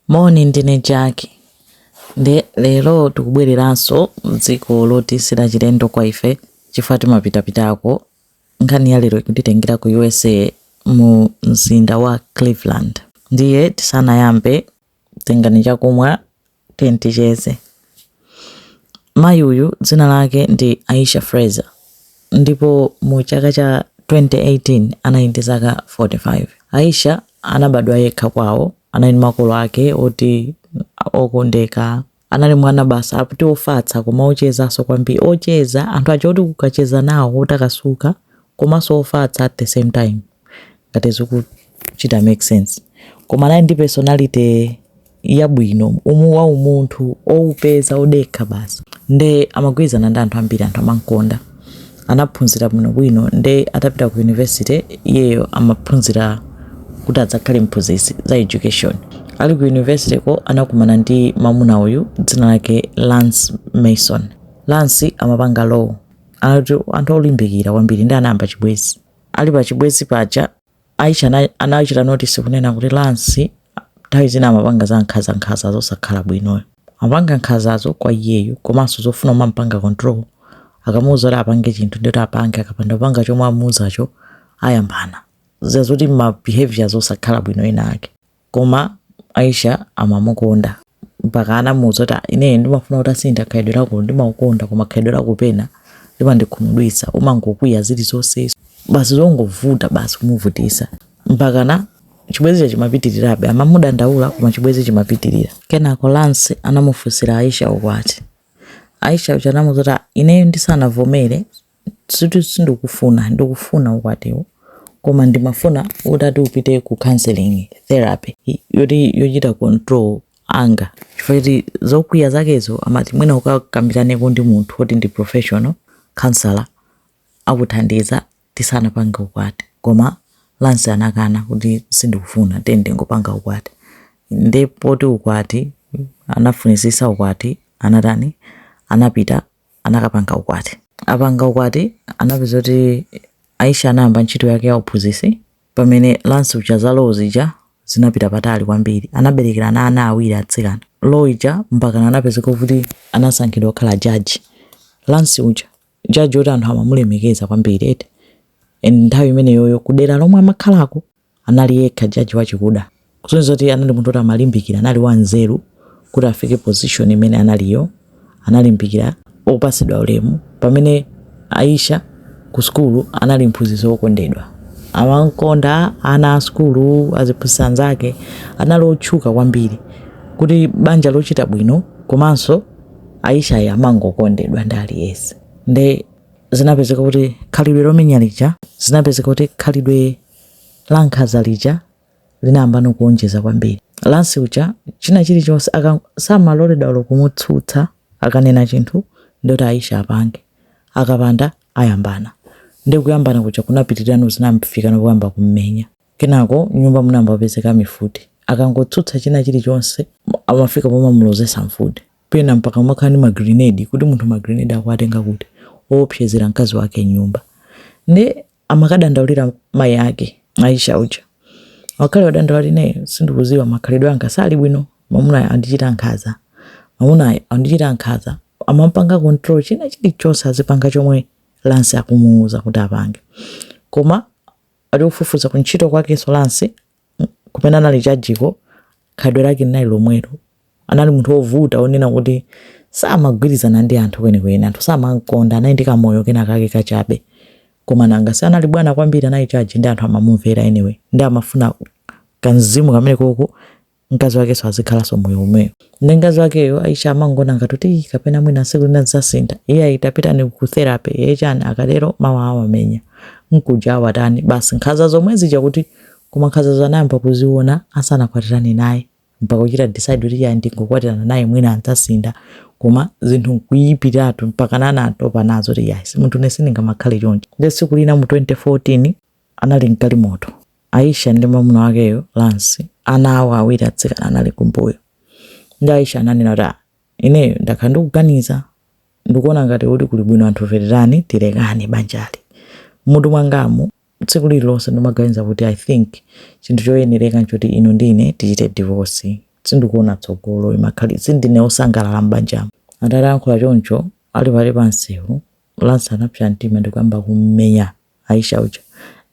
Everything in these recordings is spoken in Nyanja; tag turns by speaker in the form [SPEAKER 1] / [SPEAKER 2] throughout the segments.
[SPEAKER 1] Moni, ndine Jack. Nde lero tikubwereranso m'dziko loti silachilendo kwa ife chifukwa timapitapitako. Nkhani ya lero ikutitengera ku USA mu mzinda wa Cleveland. Ndiye tisanayambe, tengani chakumwa, tiyeni ticheze. Mayi uyu dzina lake ndi Aisha Fraser ndipo mu chaka cha 2018 anali ndi zaka 45. Aisha anabadwa yekha kwawo, anali ndi makolo ake oti okondeka. Anali mwana basi ati ofatsa koma ochezanso kwambiri, ocheza anthu aja oti ukacheza nawo otakasuka komanso ofatsa at the same time. ngati zikuchita make sense koma anali ndi personality yabwino wa umunthu oupeza odekha basi nde amagwirizana ndi anthu ambiri anthu amankonda anaphunzira bwinobwino nde atapita ku university iyeyo amaphunzira kuti adzakhale mphunzitsi za education ali ku university ko anakumana ndi mamuna uyu dzina lake lance mason lance amapanga law anthu olimbikira kwambiri ndi anayamba chibwezi ali pa chibwezi paja aisha anachita notice kunena kuti Lance nthawi zina amapanga za nkhaza nkhaza zosakhala bwino iyo amapanga nkhazazo kwa iyeyo komanso zofuna umampanga control akamuuza kuti apange chinthu ndi kuti apange akapanda kupanga chomwe amuuzacho ayambana zazoti ma behaviors osakhala bwino ena ake Koma Aisha amamukonda mpaka anamuuza kuti "Ah, ineyo ndimafuna utasintha khalidwe lako ndimakukonda koma khalidwe lako pena limandikhumudwitsa umangokwiya zilizonse basi zongovuta basi kumuvutisa mpakana chibwenzicho chimapitirirabe amamudandaula koma chibwenzi chimapitirira kenako Lance anamufunsira Aisha ukwati Aisha uja anamuuza kuti "Ah, ineyo ndisanavomere Sikuti sindikufuna, ndikufuna ukwatiwo koma ndimafuna utati upite ku counseling, therapy yoti yochita control anger chifukwa choti zokwiya zakezo amati mwina ukakambiraneko ndi munthu woti ndi professional, counselor akuthandize tisanapange ukwati. Koma Lance anakana kuti, Sindikufuna, tiyeni tingopanga ukwati. Ndiye poti ukwati, anafunitsitsa ukwati, anatani, anapita anakapanga ukwati. Apanga ukwati, anapezeka kuti Aisha anayamba ntchito yake ya uphunzitsi pamene Lance uja za law zija zinapita patali kwambiri. Anabereka ana awiri atsikana. Law ija mpakana anapezeka kuti anasankhidwa kukhala judge. Lance uja judge woti anthu amamulemekeza kwambiri eti. And nthawi imeneyoyo kudera lomwe amakhalako anali yekha judge wachikuda kusonyeza kuti anali munthu oti amalimbikira anali wanzeru kuti afike position imene analiyo analimbikira opasidwa ulemu pamene aisha ku sukulu anali mphunzitsi wokondedwa amankonda ana a sukulu aziphunzitsi anzake anali otchuka kwambiri kuti banja lochita bwino komanso aisha ayi amangokondedwa ndi aliyense nde zinapezeka kuti khalidwe lomenya lija zinapezeka kuti khalidwe la nkhanza lija linayambano kuonjeza kwambiri Lance uja china chilichonse samaloledwa olo kumutsutsa akanena chinthu ndoti aisha apange akapanda ayambana ndi kuyambana kuja kunapitirano zinafikano kuyamba kummenya kenako mnyumba munayamba kupezeka mifuti akangotsutsa china chilichonse amafika pomamulozesa mfuti pena mpaka mumakhala ndi magrenade kuti munthu magrenade akuwatenga kuti oopsezera mkazi wake mnyumba ndi amakadandaulira mayi ake Aisha uja. Ngakhale wadandaula ine sindikudziwa kakhalidwe kanga sikali bwino, mwamunayo andichita nkhanza. Mwamunayo andichita nkhanza, amampanga control china chilichonse azipanga chomwe Lance akumuuza kuti apange. Koma atafufuza kuntchito kwakenso Lance kumene anali jajiko khalidwe lake linali lomwelo anali munthu wovuta wonena kuti samagwirizana ndi anthu kwenikweni anthu samamkonda anali ndi kamoyo kena kake kachabe koma nanga si anali bwana kwambiri anali jaji nde anthu amamumvera anyway nde amafuna kamzimu kamene koko mkazi wakenso azikhalanso moyo omwewo nde mkazi wakeyo aisha amangona ngati kuti "Ih, kapena mwina siku lina zidzasintha ayi tapitani ku therapy ayi chani akatero mawa awamenya nkuja awatani basi nkhanza zomwe zija kuti Koma nkhazazo anayamba kuziona asanakwatirane naye mpaka kuchita decide kuti ya ndingokwatirana naye mwina adzasintha koma zinthu nkuyipiratu mpakana anatopa nazo kuti ya simunthu ine sindingamakhale chonchi nde tsiku lina mu 2014 anali mgalimoto Aisha ndi mamuna wakeyo Lance ana awo awiri atsikana anali kumbuyo nde Aisha ananena kuti ah, ineyo ndakhala ndikuganiza ndikuona ngati kuti kuli bwino anthu fe titani tilekane banjali mmutu mwangamu Tsiku lililonse ndimaganiza kuti I think chinthu choyenereka nchoti inu ndi ine tichite divorce. Sindikuona tsogolo, imakhal sindine wosangalala m'banjamu. Atalankhula choncho, ali pakati pa msewu, Lance anapsa mtima ndikuyamba kummenya Aisha uja.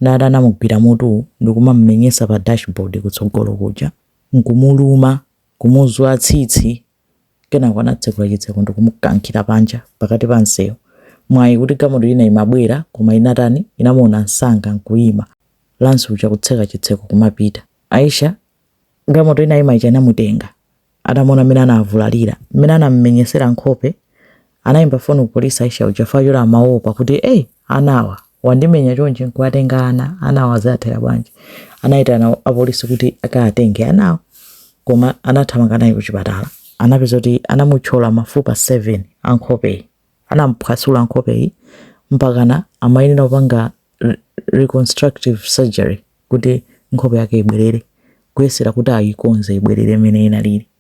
[SPEAKER 1] Nde anamugwira mutu ndikumamumenyesa pa dashboard kutsogolo kuja, nkumuluma, kumuzula tsitsi. Kenako anatsekula chitseko ndikumukankhira panja pakati pa msewu. Mwayi kuti galimoto ina imabwera koma inatani inamuona msanga nkuyima. Lance uja kutseka chitseko kumapita. Aisha, Galimoto inayima ija inamutenga. Atamuona mmene anavulalira, mmene anamumenyesera nkhope Anaimba foni ku polisi Aisha uja chifukwa choti amaopa kuti ey! ana awa, wandimenya chonchi nkuwatenga ana, ana awa ziathera bwanji? Anaitana apolisi kuti akawatenge anawo koma anathamanga naye kuchipatala. Anapeza kuti anamuthyola mafupa 7 a nkhopeyi, anamuphwasula nkhopeyi mpakana amayenera kupanga reconstructive surgery kuti nkhope yake ibwerere, kuyesera kuti ayikonze ibwerere mmene inalili.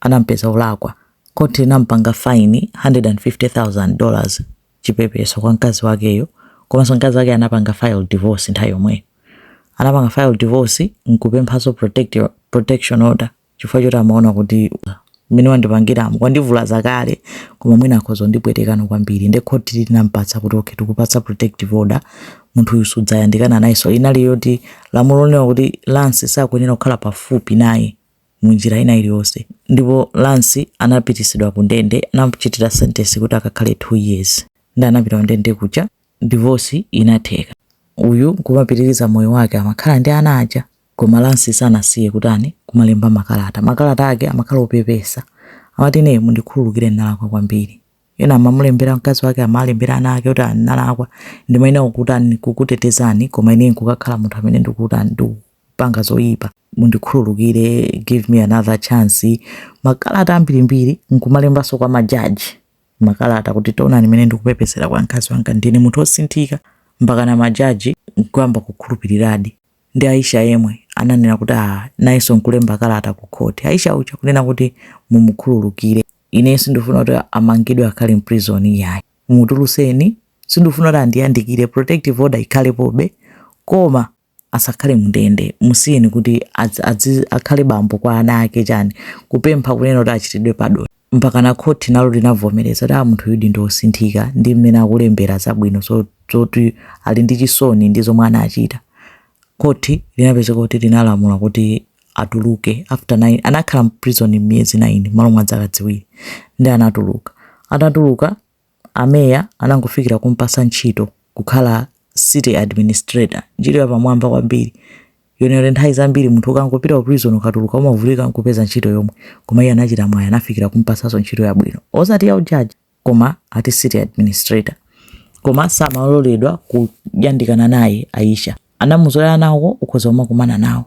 [SPEAKER 1] anampeza olakwa, khoti linampanga fine 150,000 dollars, chipepeso kwa mkazi wakeyo, komanso mkazi wakeyo anapanga file divorce nthawi yomweyo. Anapanga file divorce nkupemphanso protective, protection order chifukwa choti amaona kuti mmene wandipangiramu, wandivulaza kale koma mwina akhoza kundipwetekano kwambiri nde khoti linampatsa kuti okay tikupatsa protective order, munthuyu sudzayandikana nayenso. Inali yoti lamulo lonena kuti Lance sakuyenera kukhala pafupi naye. mu njira ina iliyonse ndipo Lance anapitisidwa ku ndende anamchitira sentence kuti akakhale 2 years ndi anapita ku ndende kuja, divorce inatheka uyu kumapitiriza moyo wake amakhala ndi ana aja koma Lance sanasiye kutani kumalemba makalata makalata ake amakhala opepesa amati ne mundikhululukire ndalakwa kwambiri Ena amamulembera mkazi wake, amalembera ana ake kuti ndalakwa, ndimayenera kukutani, kukutetezani, koma ine nkukakhala munthu amene ndikutani, ndikupanga zoyipa, mundikhululukire, give me another chance, makalata ambirimbiri, nkumalembanso kwa majaji makalata kuti taonani mmene ndikupepesera kwa mkazi wanga, ndine munthu osinthika, mpakana majaji nkuyamba kukhulupiriradi. Ndi Aisha yemwe ananena kuti ah, nayenso nkulemba kalata ku khoti Aisha uja kunena kuti mumukhululukire. ine sindifuna kuti amangidwe akhale mprison iyayi mutuluseni sindifuna kuti andiyandikire protective order ikhalepobe koma asakhale mundende musiyeni kuti adzi- adzi- akhale bambo kwa ana ake chani kupempha kunena kuti achitidwe padoni mpakana khoti nalo linavomereza kuti ah munthuyudi ndi osinthika ndi mmene akulembera zabwino zo- zoti ali ndi chisoni ndi zomwe anachita khoti linapezeka kuti linalamula kuti atuluke after 9 anakhala mprison miyezi 9 malo mwa zaka ziwiri ndi anatuluka atatuluka ameya anangofikira kumpasa ntchito kukhala city administrator ntchito yapamwamba kwambiri yonero nthawi zambiri munthu ukangopita ku prison ukatuluka umavutika kupeza ntchito yomwe koma iye anachita mwayi anafikira kumpasaso ntchito yabwino osati ya ujaji koma ati city administrator koma samaloledwa kuyandikana naye Aisha anamuuza anawo ukhoza kumakumana nawo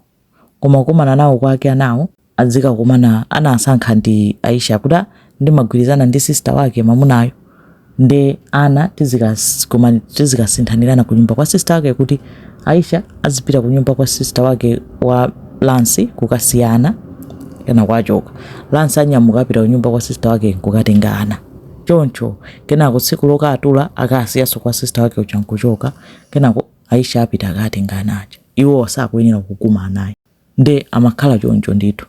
[SPEAKER 1] koma kukumana nawo kwake anawo adzikakumana anasankha ndi Aisha kuti "Ah, ndimagwirizana ndi sister wake mamunayo nde ana tizikakumana- tizikasinthanirana kunyumba kwa sister wake kuti Aisha azipita kunyumba kwa sister wake wa Lance kukasiya ana kenako achoka. Lance anyamuka apita kunyumba kwa sister wake kukatenga ana choncho kenako tsiku lokatula akasiyenso kwa sister wake uja nkuchoka kenako Aisha apita akatenga ana aja iwo sakuyenera kukumana naye nde amakhala choncho ndithu.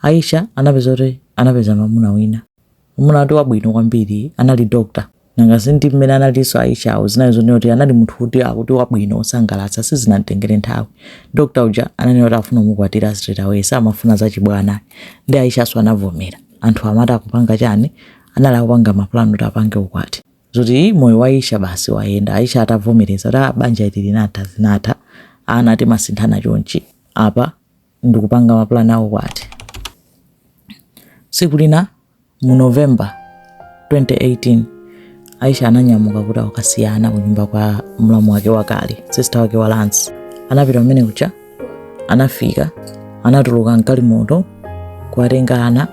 [SPEAKER 1] Aisha anapeza kuti anapeza mamuna wina Mwamuna ati wabwino kwambiri anali doctor. Nanga si ndi mmene analinso Aisha zinali zonena kuti anali munthu kuti akuti wabwino wosangalatsa sizinamtengere nthawi. Doctor uja ananena kuti akufuna kumukwatira straight away samafuna zachibwana. Ndi Aishanso anavomera. Anthu amati akupanga chani? Anali akupanga mapulani kuti apange ukwati. Zoti ii moyo wa Aisha basi wayenda. Aisha atavomereza kuti ah banja lija linatha zinatha. Ana timasinthana chonchi. Apa ndikupanga mapulani a ukwati tsiku lina mu november 2018 aisha ananyamuka kuti akasiye ana ku nyumba kwa mlamu wake wakale sista wake wa lance anapita kumene kuja anafika anatuluka mgalimoto kuwatenga ana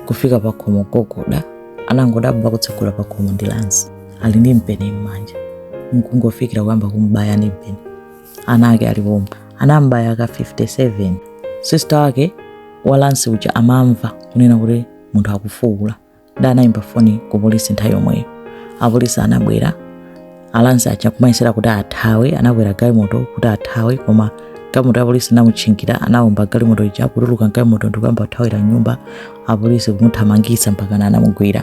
[SPEAKER 1] kufika pakhomo kugogoda anangodabwa kutsegula pakhomo ndi lance ali ndi mpeni m'manja nkungofikira kuyamba kumbaya ndi mpeni ana ake ali pomwe anambaya ka 57 sista wake wa lance uja amamva kunena kuti munthu akufuwula nde anayimba foni ku polisi nthawi yomweyo apolisi anabwera a lance aja kumayesera kuti athawe anakwera galimoto kuti athawe koma galimoto ya polisi inamutchingira anawomba galimoto ija kutuluka mgalimoto ndikuyamba kuthawira m'nyumba apolisi kumuthamangitsa mpaka anamugwira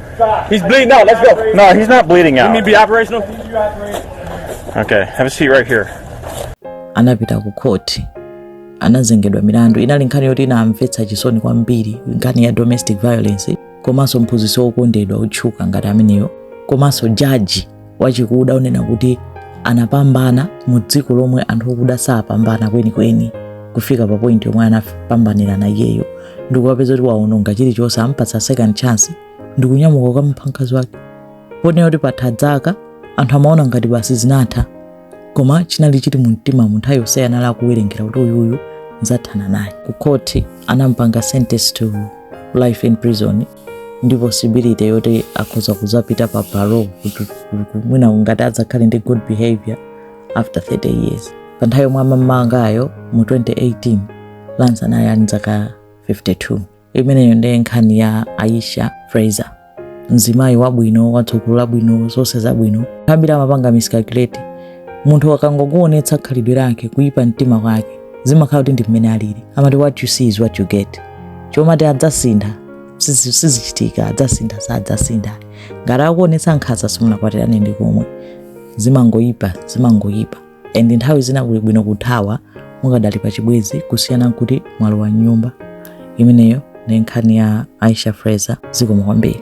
[SPEAKER 2] He's bleeding out. Let's go. No, he's not bleeding out. You need to be operational? Okay, have a seat right here. Anapita
[SPEAKER 1] ku court. Anazengedwa milandu. Inali nkhani yoti inamvetsa chisoni kwambiri, nkhani ya domestic violence komanso mphunzitsi wokondedwa otchuka ngati ameneyo komanso jaji wachikuda wonena kuti anapambana mu dziko lomwe anthu okuda sapambana kwenikweni kufika pa point yomwe anapambanira iyeyo ndikuwapeza kuti waononga chilichonse ampatsa second chance ndikunyamuka kukamupha mkazi wake ponena kuti patha dzaka anthu amaona ngati basi zinatha koma chinali chili mu mtima mu nthawi yonseyi anali akuwerengera kuti uyuyu nzathana naye ku khoti anampanga sentence to life in prison ndi possibility yoti akhoza kuzapita pa parole kuti mwina ngati adzakhale ndi good behavior after 30 years pa nthawi yomwe amamumangayo mu 2018 lance anali ali ndi zaka 52 imeneyo ndiye nkhani ya aisha fraser mzimayi wabwino watsogolo labwino zonse zabwino ambiri amapanga miscalculate munthu akangokuonetsa khalidwe lake kuyipa mtima kwake zimakhala kuti ndi mmene alili amati what you see is what you get chomati adzasintha sizi- sizichitika adzasintha sadzasintha ngati akuonetsa nkhanza simunakwatirane ndi komwe zimangoyipa zimangoyipa and nthawi zina kuli bwino kuthawa mukadali pa chibwezi kusiyana nkuti mwalowa m'nyumba imeneyo ndi nkhani ya aisha fraser zikomo kwambiri